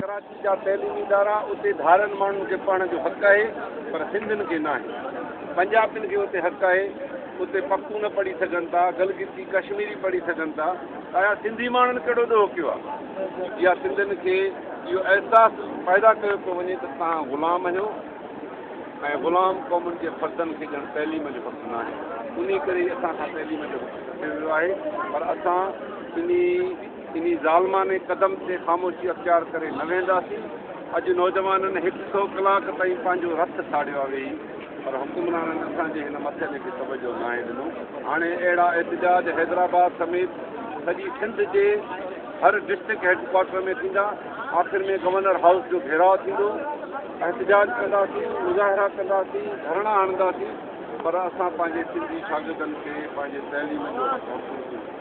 ڪراچي جا تعليمي ادارا اتي ڌارين ماڻهن کي پڙهڻ جو حق آهي پر سنڌين کي ناهي. پنجابين کي اتي حق آهي. اتي پختون پڙهي سگهن ٿا، گلگتي ڪشميري پڙهي سگهن ٿا ته آيا سنڌي ماڻهن ڪهڙو ڏوهه ڪيو آهي؟ يا سنڌين کي اهو احساس پيدا ڪيو پيو وڃي ته توهان غلام آهيو ۽ غلام قومن جي فردن کي ڄڻ تعليم جو حق ناهي. انهي ڪري ئي اسان کان تعليم جو حق کسيو ويو آهي پر اسان انهي انهي ظالمانه قدم تي خاموشي اختيار ڪري نه ويهنداسين، اڄ نوجوانن هڪ سئو ڪلاڪ تائين پنهنجو رت ساڙيو آ ويهي پر حڪمرانن اسان جي هن مسئلي کي توجهه ناهي ڏنو، هاڻي اهڙا احتجاج حيدرآباد سميت سڄي سنڌ جي هر ڊسٽرڪٽ هيڊڪوارٽر ۾ ٿيندا، آخر ۾ گورنر هائوس جو گهيراء ٿيندو، احتجاج ڪنداسين، مظاهرا ڪنداسين، ڌرڻا هڻنداسين پر اسان پنهنجي سنڌي شاگردن کي پنهنجي تعليم جو حق محفوظ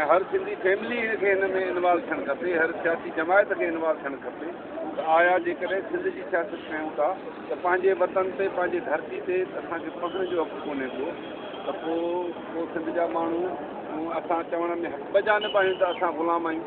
۽ هر سنڌي فيملي کي ان ۾ انوالو ٿيڻ کپي، هر سياسي جماعت کي انوالو ٿيڻ کپي ته آيا جيڪڏهن سنڌ جي سياست ڪيون ٿا ته پنهنجي وطن تي پنهنجي ڌرتي تي اسان کي پهڻ جو حق ڪونهي ڪو ته پو پو سنڌ جا ماڻهو اسان چوڻ ۾ حق ٻه جانب آهيون ته اسان غلام آهيون.